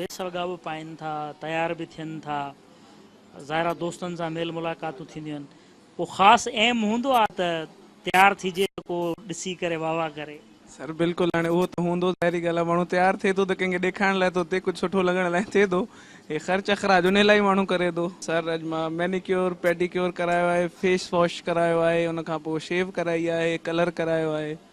اهي سرڳا به پائين ٿا، تيار به ٿين ٿا، ظاهرا دوستن سان ميل ملاقاتون ٿينديون آهن. ڪو خاص ايم هوندو آهي ته تيار ٿيجي ته ڪو ڏسي ڪري واهه واهه ڪري. سر بلڪل هاڻي اهو ته هوندو ظاهري ڳالهه آهي ماڻهو تيار ٿئي ٿو ته ڪنهن کي ڏيکارڻ لاء ٿو ٿئي ڪجهه سٺو لڳڻ لاء ٿئي ٿو هي خرچ اخراج انهي لاء ئي ماڻهو ڪري ٿو. سر اڄ مان مينيڪيور پيڊيڪيور ڪرايو آهي فيس واش ڪرايو آهي ان کان پوء شيو ڪرائي آهي ڪلر ڪرايو آهي.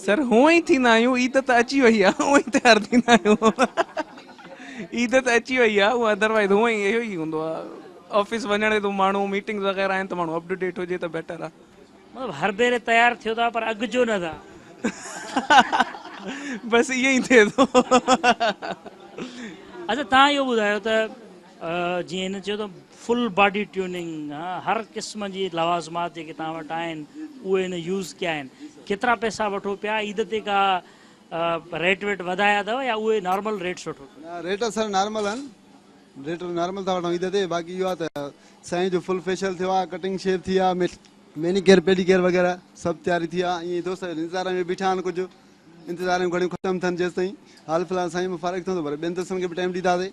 سر هونء ئي ٿيندا آهيون عيد ته اچي وئي آهي هونء ئي تيار ٿيندا آهيون عيد ته اچي وئي آهي هونء ادروائز هونء ئي اهو ئي هوندو آهي آفيس وڃڻ ٿو ماڻهو ميٽنگز وغيره آهن ته ماڻهو اپ ٽو ڊيٽ هجي ته بيٽر آهي مطلب هر ڀيري تيار ٿيو ٿا پر اڳ جو نه ٿا بس ائين ئي ٿئي ٿو اچا تهان اهو ٻڌايو ته جيئن هن چيو ته فل باڊي ٽيوننگ هر قسم جي لوازمات جيڪي توهان وٽ آهن اهي ان يوز ڪيا آهن ڪيترا پئسا وٺو پيا عيد تي ڪا ريٽ ويٽ وڌايا اٿو يا اهي نارمل ريٽس وٺو ٿا. ريٽ سر نارمل آهن ريٽ نارمل ٿا وٺون عيد تي باقي اهو آهي ته سائين جو فل فيشل ٿيو آهي ڪٽنگ شيو ٿي آهي ميني ڪيئر پيڊي ڪيئر وغيره سڀ تياري ٿي آهي ائين دوست انتظار ۾ بيٺا آهن ڪجهه انتظار ۾ گهڙيون ختم ٿين جيستائين حال فلحال سائين مان فارغ ٿيون ته وري ٻين دوستن کي به ٽائيم ڏينداسين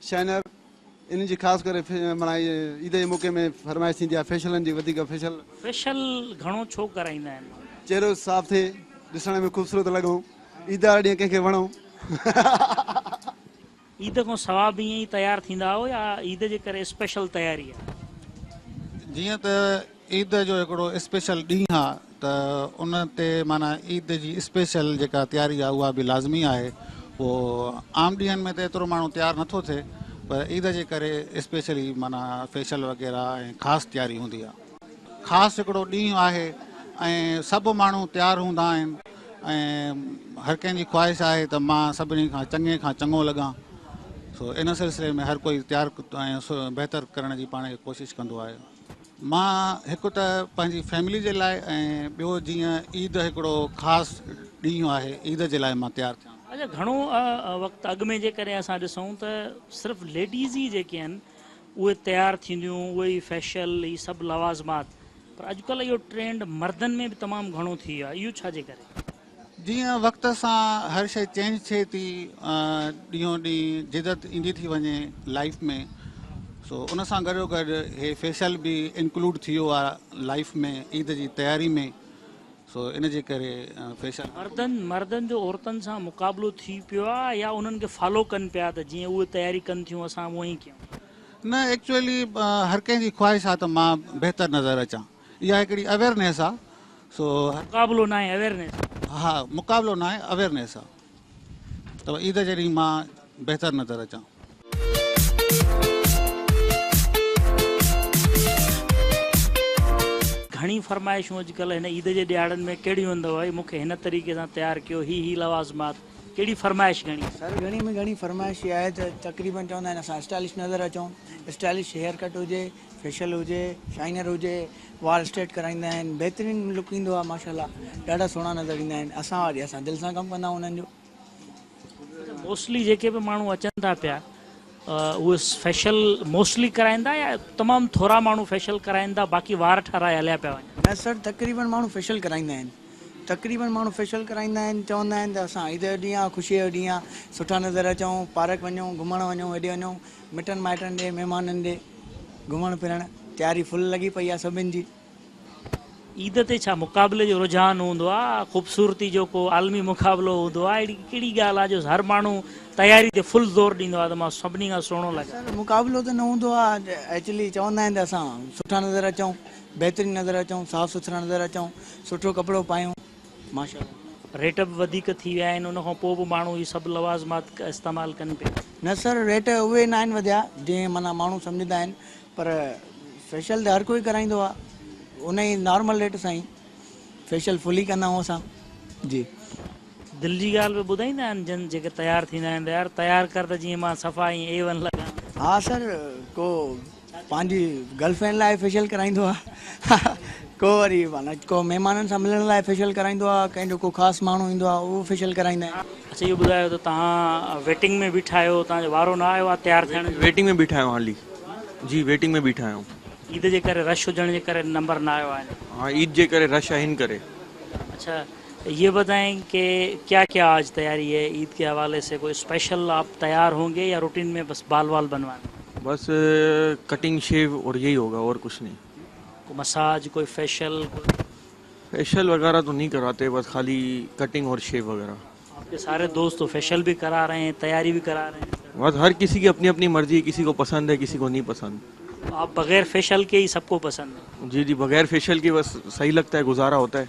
شينر، انهن جي خاص ڪري معنيٰ عيد جي موقعي ۾ فرمائش ٿيندي آهي فيشلن جي وڌيڪ فيشل. فيشل گهڻو ڇو ڪرائيندا آهن؟ چهرو صاف ٿئي، ڏسڻ ۾ خوبصورت لڳون، عيد واري ڏينهن ڪنهن کي وڻون. عيد کان سوا به ائين ئي تيار ٿيندا آهيو يا عيد جي ڪري اسپيشل تياري آهي؟ جيئن ته عيد جو هڪڙو اسپيشل ڏينهن آ ته ان تي معنيٰ عيد جي اسپيشل جيڪا تياري آ اها به لازمي آهي اهو عام ڏينهن ۾ ته ايترو ماڻهو تيار نه ٿو ٿئي پر عيد جي ڪري اسپيشلي معنيٰ فيشل وغيره ۽ خاص تياري هوندي آ خاص هڪڙو ڏينهن آهي ۽ سڀ ماڻهو تيار هوندا آهن ۽ هر ڪنهن جي خواهش آهي ته مان سڀني کان چڱي کان چڱو لڳان سو ان سلسلي ۾ هر ڪوئي تيار ۽ بهتر ڪرڻ جي پاڻ کي ڪوشش ڪندو آهي. مان هڪ ته پنهنجي فيملي جي لاء ۽ ٻيو جيئن عيد هڪڙو خاص ڏينهن آهي عيد جي لاء مان تيار ٿيان. اچا گهڻو وقت اڳ ۾ جيڪڏهن اسان ڏسون ته صرف ليڊيز ئي جيڪي آهن اهي تيار ٿينديون اهي ئي فيشل هي سڀ لوازمات پر اڄڪلهه اهو ٽرينڊ مردن ۾ به تمام گهڻو ٿي ويو آهي اهو ڇا جي ڪري؟ جيئن وقت سان هر شئي چينج ٿئي ٿي ڏينهون ڏينهن جدت ايندي ٿي وڃي لائيف ۾ سو ان سان گڏو گڏ هي فيشل به انڪلوڊ ٿي ويو آهي لائيف ۾ عيد جي تياري ۾ سو ان جي ڪري فيشل مردن مردن جو عورتن سان مقابلو ٿي پيو آهي يا انهن کي فالو ڪن پيا ته جيئن اهي تياري ڪن ٿيون اسان به اهئي ڪيون نه ايڪچوئلي هر ڪنهن جي خواهش آهي ته مان بهتر نظر اچان اها هڪڙي اويرنيس آ سو مقابلو ناهي اويرنيس آ. ها مقابلو ناهي اويرنيس آ ته عيد جي ڏينهن مان بهتر نظر اچان. گهڻي فرمائشون اڄ ڪلهه هن عيد جي ڏهاڙن ۾ ڪهڙيون اندو ڀائي مون کي هن طريقي سان تيار ڪيو هي هي لوازمات ڪهڙي فرمائش گهڻي. سر گهڻي ۾ گهڻي فرمائش اها آهي ته تقريبن چوندا آهن اسان اسٽائلش نظر اچون اسٽائلش هيئر ڪٽ هجي. فيشل هجي شائنر هجي وال اسٽريٽ ڪرائيندا آهن بهترين لڪ ايندو آهي ماشاءالله ڏاڍا سهڻا نظر ايندا آهن اسان واري اسان دل سان ڪم ڪندا آهيون انهن جو. اچا موسٽلي جيڪي به ماڻهو اچن ٿا پيا اهي فيشل موسٽلي ڪرائيندا يا تمام ٿورا ماڻهو فيشل ڪرائيندا باقي وار ٺارائي هليا پيا وڃن. نه سر تقريبن ماڻهو فيشل ڪرائيندا آهن تقريبن ماڻهو فيشل ڪرائيندا آهن چوندا آهن ته اسان عيد جو ڏينهن آهي خوشي جو ڏينهن آهي سٺا نظر اچون پارڪ وڃون گهمڻ وڃون هيڏي وڃون. مٽن مائٽن ڏي مهمانن ڏي گهمڻ ڦرڻ تياري فل لڳي پئي آهي سڀن جي. عيد تي ڇا مقابلي جو رجحان هوندو آهي خوبصورتي جو ڪو عالمي مقابلو هوندو آهي اهڙي ڪهڙي ڳالهه آهي جو هر ماڻهو تياري تي فل زور ڏيندو آهي ته مان سڀني کان سهڻو لڳان. اصل مقابلو ته نه هوندو آهي ايڪچلي چوندا آهن ته اسان سٺا نظر اچون بهترين نظر اچون صاف سٿرا نظر اچون سٺو ڪپڙو پايون. ماشاء الله ريٽ به وڌيڪ ٿي ويا آهن ان کان پوء به ماڻهو هي سڀ لوازمات استعمال ڪن پيا. نه سر ريٽ اهي ناهن وڌيا جئين معنيٰ ماڻهو سمجهندا آهن پر فيشل ته هر ڪوئي ڪرائيندو آ ان ئي نارمل ريٽ سان ئي فيشل فل ئي ڪندا آهون اسان جي. دل جي ڳالهه به ٻڌائيندا آهن جن جيڪي تيار ٿيندا آهن ته يار تيار ڪر ته جئين مان صفا ائين اي ون لڳان. ها سر ڪو پنهنجي گرل فرينڊ لاء فيشل ڪرائيندو آ ڪو وري ڪو مهمانن سان ملڻ لاء فيشل ڪرائيندو آ ڪنهن جو ڪو خاص ماڻهو ايندو آ اهو فيشل ڪرائيندا آهن. اڇا اهو ٻڌايو ته توهان ويٽنگ ۾ بيٺا آهيو توهان جو وارو نه آيو آ تيار ٿيڻ جو. ويٽنگ ۾ بيٺا آهيون هالي جي ويٽنگ ۾ بيٺا آهيون. عيد جي ڪري رش هجڻ جي ڪري نمبر نه آيو آهن. ها عيد جي ڪري رش آهن ڪري. اڇا يي بتائين ڪي ڪيا ڪيا آج تياري هي عيد ڪي حوالي سي ڪوئي اسپيشل آپ تيار هونگي يا روٽين مي بس بال وال بنوانا. بس ڪٽنگ شيو اور يهي هوگا اور ڪچھ نهي. ڪو مساج ڪوئي فيشل ڪوئي. فيشل وغيره تو نهي ڪراته بس خالي ڪٽنگ اور شيو وغيره. آپ ڪي ساري دوست تو فيشل بي ڪرا رهي هي تياري بي ڪرا رهي هي. بس هر ڪسي ڪي اپني اپني مرضي هي ڪسي ڪو پسند هي ڪسي ڪو نهي پسند. آپ بغير فيشل ڪي هي سب ڪو پسند هي. جي جي بغير فيشل ڪي بس سهي لگتا هي گزارا هوتا هي.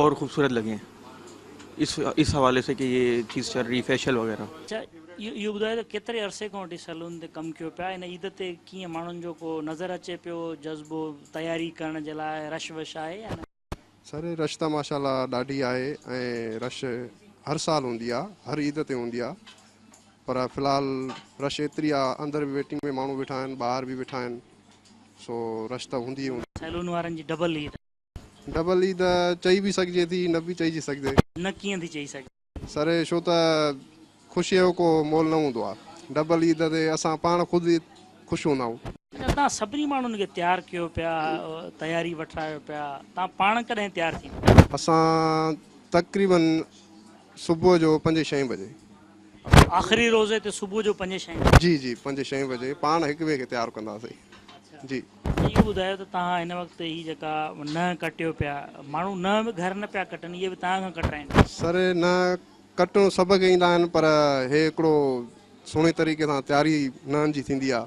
اور خوبصورت لگیں اس اس حوالے سے کہ یہ چیز چل رہی فیشل وغیرہ۔ اچا اهو ٻڌايو ته ڪيتري عرصي کان وٺي سيلون تي ڪم ڪيو پيا هن عيد تي ڪيئن ماڻهن جو ڪو نظر اچي پيو جذبو تياري ڪرڻ جي لاء رش وش آهي يا نه. سر رش ته ماشاء الله ڏاڍي آهي ۽ رش هر سال هوندي آهي هر عيد تي هوندي آهي پر في الحال رش ايتري آهي اندر به ويٽنگ ۾ ماڻهو ويٺا آهن ٻاهر به ويٺا آهن سو رش ته هوندي ئي هوندي. سيلون وارن جي ڊبل عيد آهي. ڍٻل ئي ته چئي به سگهجي ٿي، نه به چئجي سگهدي. نه ڪيئن ٿي چئي سگهجي. سر، ڇو ته خوشيء جو ڪو مول نه هوندو آهي. ڍٻل عيد تي اسان پاڻ خود ئي خوش هوندا آهيون. اچا، توهان سڀني ماڻهن کي تيار ڪيو پيا، تياري وٺرايو پيا، توهان پاڻ ڪڏهن تيار ٿيندا؟ اسان تقريبن صبح جو پنجين ڇهين بجي. آخري روزي تي صبح جو پنج ڇهين بجي. جي جي پنج ڇهين بجي پاڻ هڪ ٻئي کي تيار ڪنداسين جي. اهو ٻڌايو ته توهان هن وقت هي جيڪا ننهن ڪٽيو پيا ماڻهو ننهن به گهر نه پيا ڪٽن اهي به توهان کان ڪٽرائين. سر ننهن ڪٽڻ سڀ کي ايندا آهن پر هي هڪڙو سهڻي طريقي سان تياري ننهن جي ٿيندي آهي.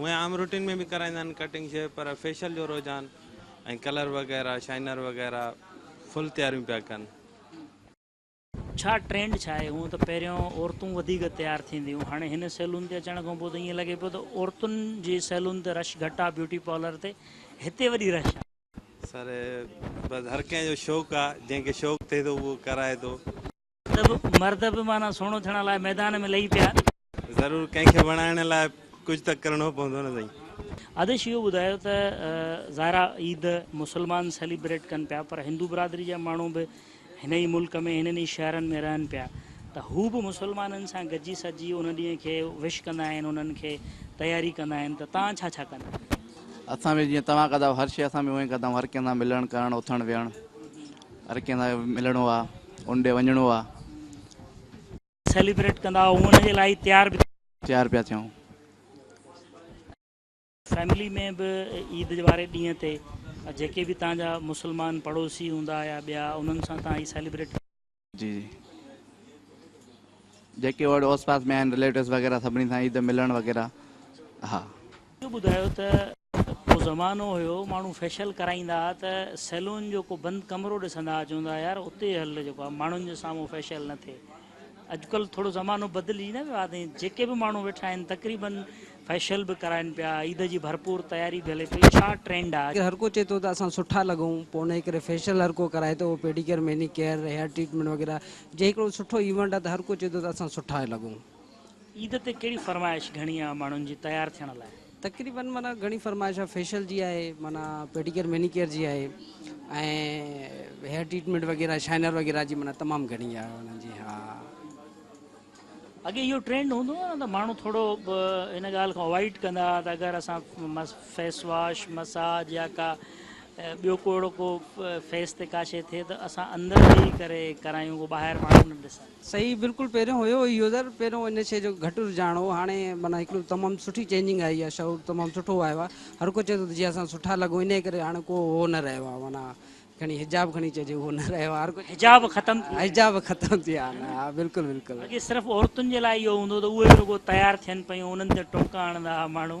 هونئن عام روٽين ۾ به ڪرائيندا آهن ڪٽنگ شيو پر فيشل جو رجحان ۽ ڪلر وغيره شائنر وغيره فل تياريون پيا ڪن. ڇا ٽرينڊ ڇا آهي؟ هونئن ته پهريون عورتون وڌيڪ تيار ٿينديون هون هاڻي هن سيلون تي اچڻ کانپوء ته ائين لڳي پيو ته عورتن جي سيلون تي رش گهٽ آهي بيوٽي پارلر تي هتي وڏي رش آهي. سر بس هر ڪنهن جو شوق آ جنهن کي شوق ٿئي ٿو اهو ڪرائي ٿو. مرد به معنيٰ سهڻو ٿيڻ لاء ميدان ۾ لهي پيا. ضرور ڪنهن کي وڻائڻ لاء ڪجهه ته ڪرڻو پوندو نه سائين. آديش اهو ٻڌايو ته ظاهر آ عيد مسلمان سيليبريٽ ڪن پيا پر هندو برادري جا ماڻهو به هن ئي ملڪ ۾ هنن ئي شهرن ۾ رهن پيا ته هو به مسلمانن سان گڏجي سڏجي ان ڏينهن کي وش ڪندا آهن انهن کي تياري ڪندا آهن ته توهان ڇا ڇا ڪندا آهيو؟ اسان به جيئن توهان ڪندا آهيو هر شي اسان به اونئين ڪندا آهيون هر ڪنهن سان ملڻ ڪرڻ اٿڻ ويهڻ هر ڪنهن سان ملڻو آهي ان ڏي وڃڻو آهي. سيليبريٽ ڪندا آهيو ان جي لاء تيار به. تيار پيا ٿيون. فيملي ۾ به عيد واري ڏينهن تي جيڪي به توهان جا مسلمان پڙوسي هوندا يا ٻيا انهن سان توهان هي سيليبريٽ ڪري جي جي جيڪي اڙ اوس پاس ۾ آهن رليٽوس وغيره سڀني سان عيد ملڻ وغيره ها. اهو ٻڌايو ته ڪو زمانو هيو ماڻهو فيشل ڪرائيندا ها ته سيلون جو ڪو بند ڪمرو ڏسندا ها چوندا ها يار اتي هل جيڪو آ ماڻهن جي سامهون فيشل نه ٿئي. اڄڪلهه ٿورو زمانو بدلجي نه ويو آهي ۽ جيڪي به ماڻهو ويٺا آهن تقريبن فيشل به ڪرائن پيا، عيد جي ڀرپور تياري به هلي پئي، ڇا ٽرينڊ آهي اڄ؟ هرڪو چئي ٿو ته اسان سٺا لڳون، پوء انهيء ڪري فيشل هرڪو ڪرائي ٿو، اهو pedicure, manicure, hair treatment وغيره جي هڪڙو سٺو ايونٽ آهي ته هرڪو چئي ٿو ته اسان سٺا لڳون. عيد تي ڪهڙي فرمائش گهڻي آهي ماڻهن جي تيار ٿيڻ لاء؟ تقريبن معنيٰ گهڻي فرمائش آهي فيشل جي آهي معنيٰ پيڊيڪيئر مينيڪيئر جي آهي ۽ هيئر ٽريٽمينٽ وغيره شائنر وغيره جي معنيٰ تمام گهڻي آهي انهن جي اڳي اهو ٽرينڊ هوندو هو نه ته ماڻهو ٿورو ان ڳالهه کان اوائڊ ڪندا هئا ته اگر اسان فيس واش مساج يا ڪا ٻيو ڪو اهڙو ڪو فيس تي ڪا شي ٿئي ته اسان اندر ويهي ڪري ڪرايون ڪو ٻاهر ماڻهو نه ڏسن صحيح بلڪل پهريون هيو هي يوزر پهريون ان شي جو گهٽ رجحان هو هاڻي معنيٰ هڪڙو تمام سٺي چينجنگ آئي آ شعور تمام سٺو آيو آ هر ڪو چوي ٿو ته جي اسان سٺا لڳون انهي ڪري هاڻي ڪو هو نه رهيو آ معنيٰ کڻي حجاب کڻي چئجي اهو نه رهيو آ هر ڪو چوي حجاب ختم ٿي ويا حجاب ختم ٿي ويا آهن ها بلڪل بلڪل. اڳي صرف عورتن جي لاء اهو هوندو هو ته اهي رڳو تيار ٿين پيون انهن تي ٽوڪا هڻندا ها ماڻهو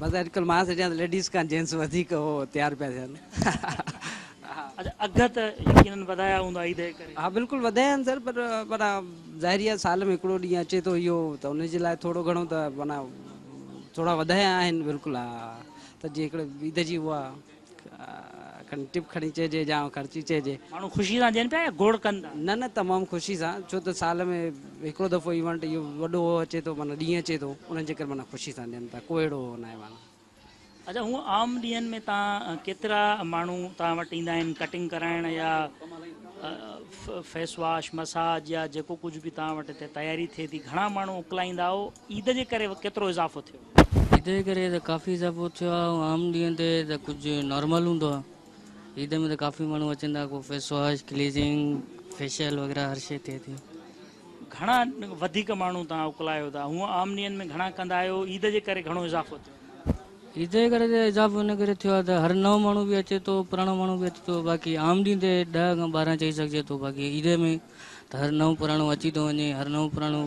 بس اڄ ڪلهه مان سوچيان ته ليڊيز کان جينٽس وڌيڪ اهو تيار پيا ٿين ها. اچا اگهه ته يقينن وڌايا هوندا عيد جي ڪري؟ ها بلڪل وڌايا آهن سر پر معنيٰ ظاهري آهي سال ۾ هڪڙو ڏينهن اچي ٿو اهو ته ان جي لاء ٿورو گهڻو ته معنيٰ ٿورا وڌايا آهن بلڪل ها ته جيڪڏهن عيد جي اها کن ٽپ کڻي چئجي جا خرچي چئجي. ماڻهو خوشي سان ڏين پيا يا گوڙ ڪن ٿا؟ نه نه تمام خوشي سان ڇو ته سال ۾ هڪڙو دفعو ايونٽ اهو وڏو هو اچي ٿو معنيٰ ڏينهن اچي ٿو ان جي ڪري معنيٰ خوشي سان ڏين ٿا ڪو اهڙو هو ناهي معنيٰ. اچا هونء عام ڏينهن ۾ تان ڪيترا ماڻهو تان وٽ ايندا آهن ڪٽنگ ڪرائڻ يا فيس واش مساج يا جيڪو ڪجهه به تان وٽ هتي تياري ٿئي ٿي گهڻا ماڻهو اڪلائيندا هو عيد جي ڪري ڪيترو اضافو ٿيو؟ عيد جي ڪري ته ڪافي اضافو ٿيو آهي ۽ عام ڏينهن تي ته ڪجهه نارمل هوندو آهي عيد ۾ ته ڪافي ماڻهو اچن ٿا ڪو فيس واش ڪليزنگ فيشل وغيره هر شي ٿئي ٿي. گهڻا وڌيڪ ماڻهو توهان اڪلايو ٿا هونء عام ڏينهن ۾ گهڻا ڪندا آهيو عيد جي ڪري گهڻو اضافو ٿيو آهي. عيد جي ڪري ته اضافو ان ڪري ٿيو آهي ته هر نئون ماڻهو به اچي ٿو پراڻو ماڻهو به اچي ٿو باقي عام ڏينهن تي ڏهه کان ٻارهن چئي سگهجي ٿو باقي عيد ۾ ته هر نئون پراڻو اچي ٿو وڃي هر نئون پراڻو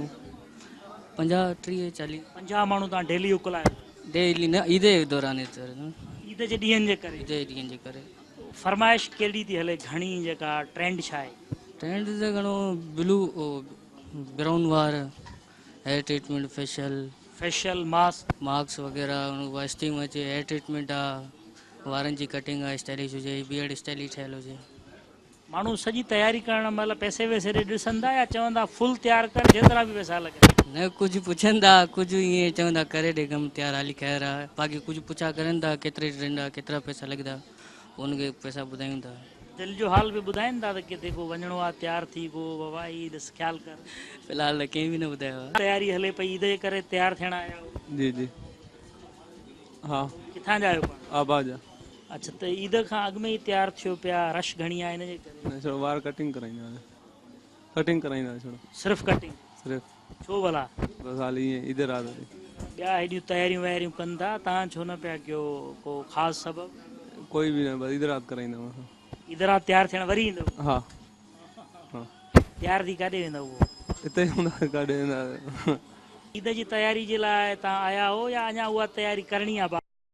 پنجاهه ٽيهه چاليهه پنجاهه ماڻهو تان ڊيلي اڪلايو ڊيلي نه عيد جي دوران عيد جي ڏينهن جي ڪري عيد جي ڏينهن جي ڪري فرمائش ڪهڙي ٿي هلي گهڻي جيڪا ٽرينڊ ڇا آهي ٽرينڊ ته گهڻو بلو براؤن وار hair treatment facial facial mask mask وغيرہ واسٽيم اچي هيئر ٽريٽمينٽ آ وارن جي ڪٽنگ آ اسٽائلش هجي بيئرڊ اسٽائلش ٺهيل هجي ماڻهو سڄي تياري ڪرڻ مهل پئسي وئسي ڏي ڏسندا يا چوندا فل تيار ڪر جيترا به پئسا لڳن. نه ڪجهه پڇندا ڪجهه ايئن چوندا ڪري ڏي ڪم تيار هالي خير آ باقي ڪجهه پڇا ڪرن ٿا ڪيتري ڏيندا ڪيترا پئسا لڳدا پوء ان کي پئسا ٻڌايون ٿا. دل جو حال به ٻڌائين ٿا ته ڪٿي ڪو وڃڻو آ تيار ٿي گو بابا هي ڏس خيال ڪر. في الحال ته ڪنهن به نه ٻڌايو آ. تياري هلي پئي عيد جي ڪري تيار ٿيڻ آيا آهيو. جي جي ها. ڪٿان جا آهيو پاڻ. آبا جا. اچ ته عيد کان اڳ ۾ ئي تيار ٿيو پيا رش گهڻي آهي ان جي ڪري. نه ڇڙو وار ڪٽنگ ڪرائيندا سي ڪٽنگ ڪرائيندا سي ڇڙو. صرف ڪٽنگ صرف. ڇو ڀلا. بس حال ائين عيد رات تي. ٻيا هيڏيون تياريون وياريون ڪن ٿا تان ڇو نه پيا ڪيو ڪو خاص سبب. ڪوئي به نه بس عيد رات ڪرائيندا آهيون اسان. عيد رات تيار ٿيڻ وري ايندؤ. ها ها. تيار ٿي ڪاڏي ويندؤ پوء. اتي ئي هوندا سي ڪاڏي ويندا. عيد جي تياري جي لاء تان آيا هو يا اڃا اها تياري ڪرڻي آهي باقي.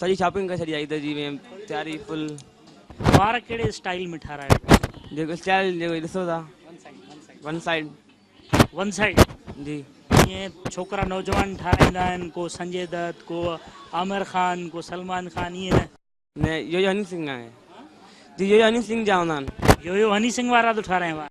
سڄي شاپنگ ڪري ڇڏي عيد جي ميم تياري فل. وار ڪهڙي اسٽائيل ۾ ٺارايو اٿو؟ جيڪو اسٽائيل جيڪو ڏسو ٿا ون سائيڊ. ون سائيڊ جي. جيئن ڇوڪرا نوجوان ٺارايندا آهن ڪو سنجي دت ڪو عامر خان ڪو سلمان خان ائين نه؟ نه يويو هني سنگهه آهي. جي يويو هني سنگهه جا هوندا آهن. يويو هني سنگهه وارا ٿو ٺاراين وار.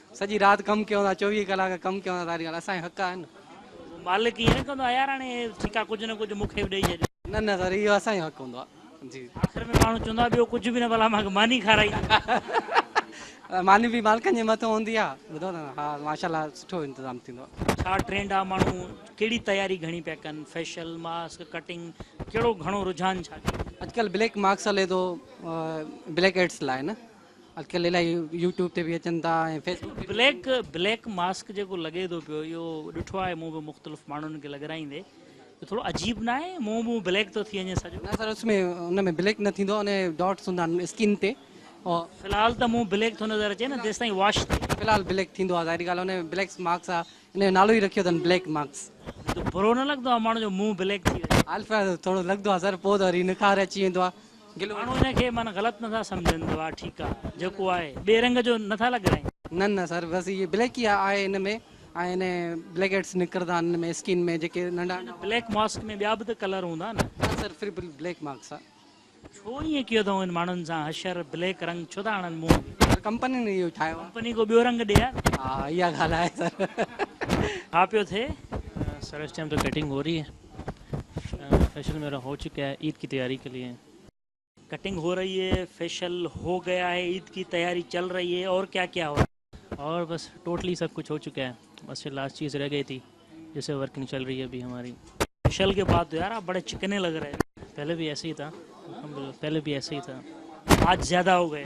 سڄي رات ڪم ڪيون ٿا چوويهه ڪلاڪ ڪم ڪيون ٿا ساري ڳالهه اسان جا حق آهن نه. مالڪ ائين نه ڪندو آهي يار هاڻي ٺيڪا ڪجهه نه ڪجهه مون کي به ڏئي ڇڏ. نه نه سر اهو اسان جو حق هوندو آهي جي. آخر ۾ ماڻهو چوندو آهي ٻيو ڪجهه به نه ڀلا مان کي ماني کارائي ڏي. ماني به مالڪن جي مٿو هوندي آهي ٻڌو ٿا نه ها ماشاء الله سٺو انتظام ٿيندو آهي. ڇا ٽرينڊ آهي ماڻهو ڪهڙي تياري گهڻي پيا ڪن فيشل ماسڪ ڪٽنگ ڪهڙو گهڻو رجحان ڇا ڪيو. اڄ ڪلهه بليڪ ماسڪ هلي ٿو بليڪ هيڊس لاء نه اڄڪلهه الائي يو ٽيوب تي به اچن ٿا ۽ فيس بڪ تي به اچن ٿا. هي بليڪ ماسڪ جيڪو لڳي ٿو پيو اهو ڏٺو آهي مون به مختلف ماڻهن کي لڳرائيندي جو ٿورو عجيب نه آهي منهن ٻنهن بليڪ ٿو ٿي وڃي سڄو. نه سر اس ۾ ان ۾ بليڪ نه ٿيندو آهي ان ڊاٽس هوندا آهن اسڪن تي او. في الحال ته منهن بليڪ ٿو نظر اچي نه جيستائين واش ٿئي. في الحال بليڪ ٿيندو آهي ظاهري ڳالهه آهي ان بليڪس ماڪس آهي ان جو نالو ئي رکيو اٿن بليڪ ماڪس. برو نه لڳندو آهي ماڻهو جو منهن بليڪ ٿي وڃي. هال فلحال ٿورو لڳندو آهي سر پوء ته وري نکار اچي ويندو آهي. ماڻهو ان کي من غلط نٿا سمجهن ته واهه ٺيڪ آ جيڪو آهي ٻئي رنگ جو نٿا لڳرائين. نه نه سر بس اهي بليڪ ئي آهي هن ۾ ۽ ان بليڪ هيڊس نڪرندا آهن هن ۾ اسڪين ۾ جيڪي ننڍا ننڍا. بليڪ ماسڪ ۾ ٻيا به ته ڪلر هوندا نه. نه سر پھر به بليڪ مارڪس آ. ڇو ائين ڪيو اٿئون ان ماڻهن سان حشر بليڪ رنگ ڇو ٿا هڻن منهن تي. سر ڪمپنين اهو ٺاهيو آ. ڪمپني ڪو ٻيو رنگ ڏي ها. ها اها ڳالهه آهي سر. ڇا پيو ٿئي؟ سر اس ٽائم تو ڪٽنگ هو رهي هي. فيشل ميرا هو چڪا هي عيد ڪي تياري ڪي ليي. ڪٽنگ هو رهي هي فيشل هو گيا هي عيد ڪي تياري چل رهي هي اور ڪيا ڪيا هو. اور بس ٽوٽلي سب ڪجھ هو چڪا هي بس جو لاسٽ چيز رهه گئي ٿي جسي ورڪنگ چل رهي هي ابهي هماري. فيشل ڪي بعد تو يار آپ بڙي چڪني لڳ رهي هو. پهلي به ايسي هي ٿا پهلي به ايسي هي ٿا. آج زياده هو گئي.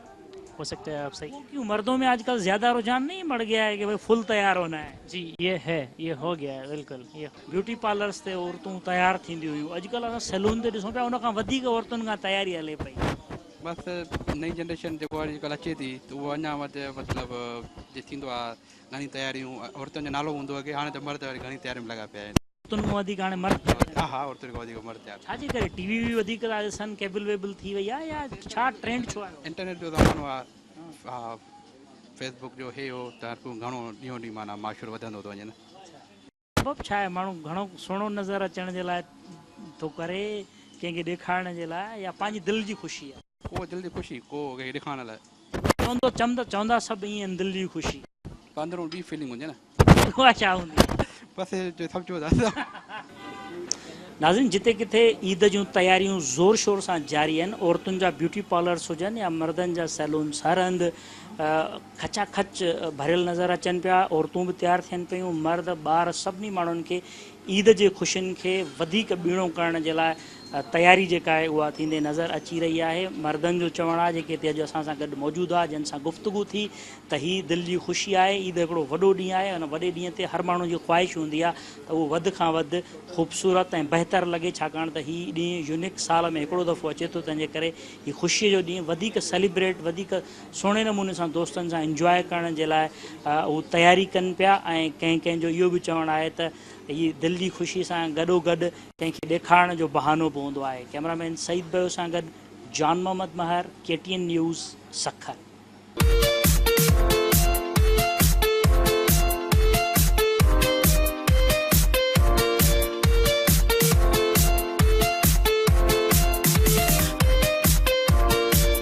هو سکتا هي آپ سهي. وہ کيون مردوں مين آج کل زياده رجحان نهين بڙ گيا هي ڪي بهي فل تيار هونا هي. جي يي هي يي هو گيا هي بلڪل يي. بيوٽي پارلرس تي عورتون تيار ٿينديون هيون اڄ ڪل اسان سيلون تي ڏسون پيا ان کان وڌيڪ عورتن کان تياري هلي پئي. بس نئين جنريشن جيڪو اڄ ڪل اچي ٿي ته اهو اڃان وڌ مطلب جي ٿيندو آ گهڻي تياريون عورتن جو نالو هوندو هو اڳي هاڻي ته مرد وري گهڻي تيارين ۾ لڳا پيا آهن. عورتن کان وڌيڪ هاڻي مرد ٿيا پيا آهن. ها ها عورتن کان وڌيڪ مرد ٿيا پيا آهن. ڇاجي ڪري ٽي وي وي وڌيڪ ٿا ڏسن ڪيبل ويبل ٿي وئي آهي يا ڇا ٽرينڊ ڇو آيو. انٽرنيٽ جو زمانو آ ها فيس بڪ جو هي هو ته هر ڪو گهڻو ڏينهون ڏينهن معنيٰ معاشرو وڌندو ٿو وڃي نه. سبب ڇا آهي ماڻهو گهڻو سهڻو نظر اچڻ جي لاء ٿو ڪري ڪنهن کي ڏيکارڻ جي لاء يا پنهنجي دل جي خوشي آ. ڪو دل جي خوشي. ڪو ڪنهن کي ڏيکارڻ لاء. چوندو چمد چوندا سڀ ائين آهن دل جي خوشي. پر اندرون ٻي فيلنگ هوندي نه. اها ڇا هوندي. بس جو سمجهو ٿا سو. ناظرين جتي ڪٿي عيد جون تياريون زور شور سان جاري آهن عورتن جا بيوٽي پارلرس هجن يا مردن جا سيلونس هر هنڌ کچا کچ ڀريل نظر اچن پيا عورتون به تيار ٿين پيون مرد ٻار سڀني ماڻهن کي عيد جي خوشين کي وڌيڪ ٻيڻو ڪرڻ جي لاء تياري جيڪا آهي اها ٿيندي نظر اچي رهي آهي مردن جو چوڻ آهي جيڪي هتي اڄ اسان سان گڏ موجود هئا جن سان گفتگو ٿي ته هي دل جي خوشي آهي عيد هڪڙو وڏو ڏينهن آهي ان وڏي ڏينهن تي هر ماڻهو جي خواهش هوندي آهي ته اهو وڌ کان وڌ خوبصورت ۽ بهتر لڳي ڇاڪاڻ ته هي ڏينهن يونڪ سال ۾ هڪڙو دفعو اچي ٿو تنهن جي ڪري هي خوشي جو ڏينهن وڌيڪ سيليبريٽ وڌيڪ سهڻي نموني سان دوستن سان انجواء ڪرڻ جي لاء هو تياري ڪن پيا ۽ ڪنهن ڪنهن جو اهو به چوڻ آهي ته هي دل جي خوشي سان گڏوگڏ ڪنهن کي ڏيکارڻ جو بهانو به هوندو آهي ڪئميرا مين سعيد بيو سان گڏ Jan Muhammad Mahar K T N news Sukkur.